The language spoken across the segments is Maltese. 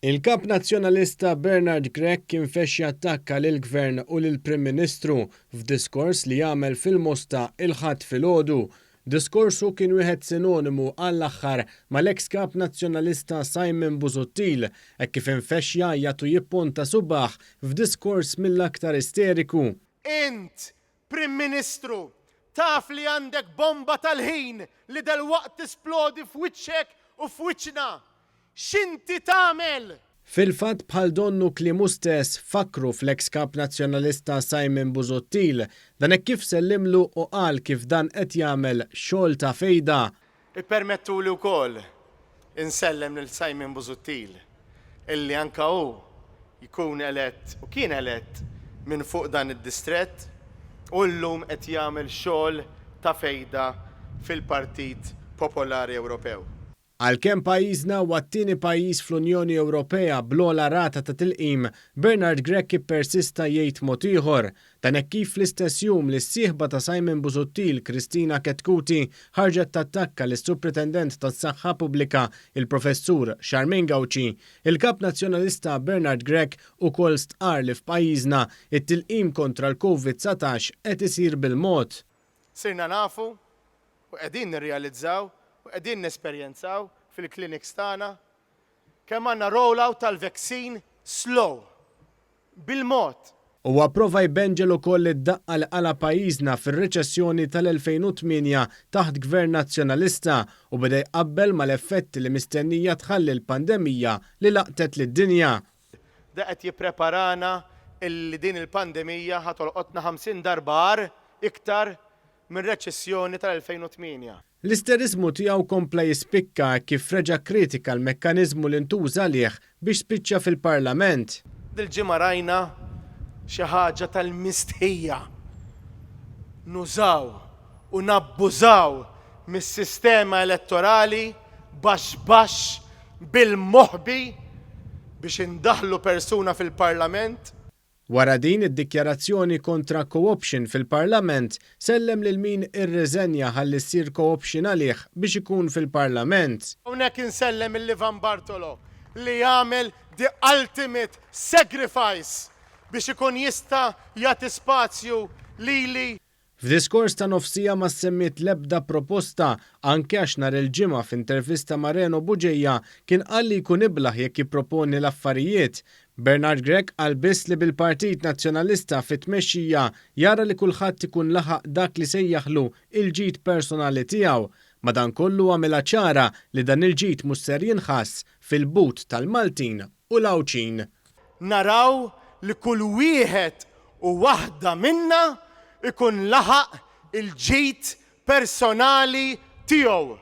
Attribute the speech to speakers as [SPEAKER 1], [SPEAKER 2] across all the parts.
[SPEAKER 1] Il-Kap Nazzjonalista Bernard Grech kien fexxi attakka lill-Gvern u lill-Prim Ministru f'diskors li għamel fil-Mosta il-Ħadd filgħodu. Diskorsu kien wieħed sinonimu għall-aħħar mal-eks Kap Nazzjonalista Simon Busuttil hekk kif infexx jgħajjat u jipponta subgħah f'diskors mill-aktar isteriku. Int
[SPEAKER 2] Prim Ministru, taf li għandek bomba tal-ħin li delwaqt tisplodi f'wiċċek u f'wiċċna. X'inti tagħmel? Fil-fatt bħal
[SPEAKER 1] donnu kliemu stess fakkru fl-eks Kap Nazzjonalista Simon Busuttil. Dan hekk kif sellimlu u qal kif dan qed jagħmel xogħol ta' fejda. Ippermettuli
[SPEAKER 2] wkoll insellem lil Simon Busuttil illi anke hu jkun elett u kien elett minn fuq dan id-distrett u llum qed jagħmel xogħol ta' fejda fil-Partit Popolari Ewropew. Għalkemm
[SPEAKER 1] pajjiżna huwa t-tieni pajjiż fl-Unjoni Ewropea bl-ogħla rata ta' tilqim, Bernard Grech ippersista jgħid mod ieħor, Dan hekk kif fl-istess jum li s-sieħba ta' Simon Busuttil, Christina Chetcuti, ħarġet tattakka lis-Supretendent tas-Saħħa Pubblika, il-Professur Charmaine Gauci, il-Kap Nazzjonalista Bernard Grech ukoll stqarr li f'pajjiżna t-tilqim kontra l-Covid 19 qed isir bil-mod. Sirna nafu
[SPEAKER 2] u qegħdin nirrealizzaw u qegħdin nesperjenzaw fil-clinics tagħna Kemm għandna rollout tal-veksin slow bil-mod! Huwa
[SPEAKER 1] prova jbenġel ukoll id-daqqa li qala' pajjiżna fir-reċessjoni tal-2008 taħt Gvern Nazzjonalista u beda jqabbel mal-effetti li mistennija tħalli l-pandemija li laqtet lid-dinja. Da qed
[SPEAKER 2] jippreparana li din il-pandemija ħa tolqotna 50 darba agħar iktar mir-reċessjoni tal-2008. L-isteriżmu
[SPEAKER 1] tiegħu kompla jispikka hekk kif reġa' kkritika l-mekkaniżmu li ntuża għalih biex spiċċa fil-Parlament. Dil-ġimgħa rajna
[SPEAKER 2] xi ħaġa tal-mistħija. Nużaw u nabbużaw mis-sistema elettorali baxx baxx bil-moħbi biex indaħħlu persuna fil-Parlament. Wara din
[SPEAKER 1] id-dikjarazzjoni kontra co-option fil-Parlament, sellem lil min irriżenja ħalli ssir co-option għalih biex ikun fil-Parlament. Hawnhekk insellem
[SPEAKER 2] lil Ivan Bartolo li għamel the ultimate sacrifice biex ikun jista' jagħti spazju lili. F'diskors
[SPEAKER 1] ta' nofs siegħa ma ssemmiet l-ebda proposta, anke għax nhar il-Ġimgħa f'intervista ma' Reno Bugeja kien qal li jkun iblah jekk jipproponi l-affarijiet. Bernard Grech qal biss li bil-Partit Nazzjonalista fit-tmexxija jara li kulħadd ikun laħaq dak li sejjaħlu il-ġid personali tiegħu. Madankollu għamilha ċara li dan il-ġid mhux ser jinħass fil-but tal-Maltin u l-Għawdxin. naraw
[SPEAKER 2] li kull wieħed u waħda minna jkun laħaq il-ġid personali tiegħu,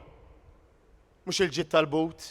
[SPEAKER 2] mhux il-ġid tal-but.